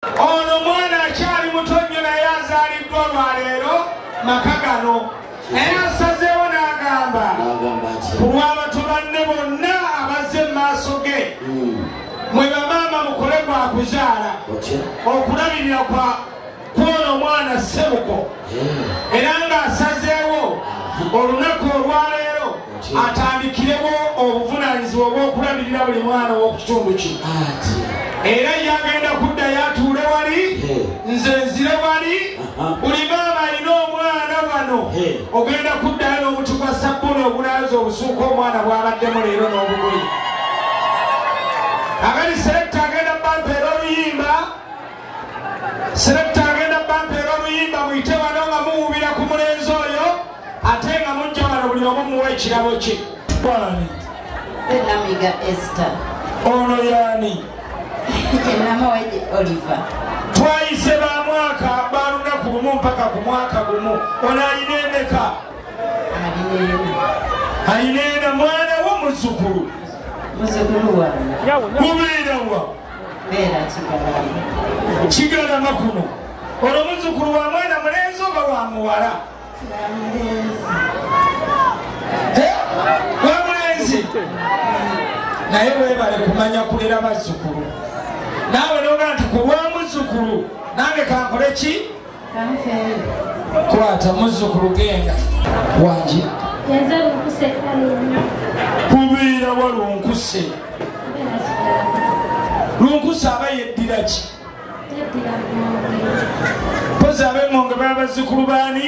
Ono mwana akyali muto nnyo naye azaaliddwa olwaleero maka gano naye asazeewo n'agamba ku lw'abato banne bonna abazze mu maaso ge hmm. mwe bamaama mukole gwa kuzaala okulabirira kwa kwono omwana ssebuko hmm. era ng'asazeewo olunaku olwaleero atandikiremu obuvunaanyizibwa obw'okulabirira buli mwana ow'oku kitundu ki era yagenda kuddayo atuule wali nze nzire wali buli maama alina omwana wano ogenda kuddayo n'omuti gwa sabbuni ogunaaza obusuuka omwana bw'abaddemu leero n'obugoyi agani selekta agenda bampeera oluyimba selekta agenda bampeera oluyimba muyite wano nga muwubira ku mulenzi oyo ate nga mujja wano buli omu muwa ekirabo kye bwani enamiga ester ono yani enama weje oliver twayise ba mwaka ba lunaku lumu mpaka ku mwaka gumu ono alina emeka alina ena mwana wo muzukulu mubeerawa kigalama kuno olwo muzukulu wa mwana mulenzi oba wa muwala wamulenzi naye webale kumanya kulera bazzukulu naawe noga nti kulwa muzzukulu nange kankole ki kwata muzzukulu genda wangi kubeera walunkuse lunkuse aba yeddira ki mpozi abemonge baba bazzukulu baani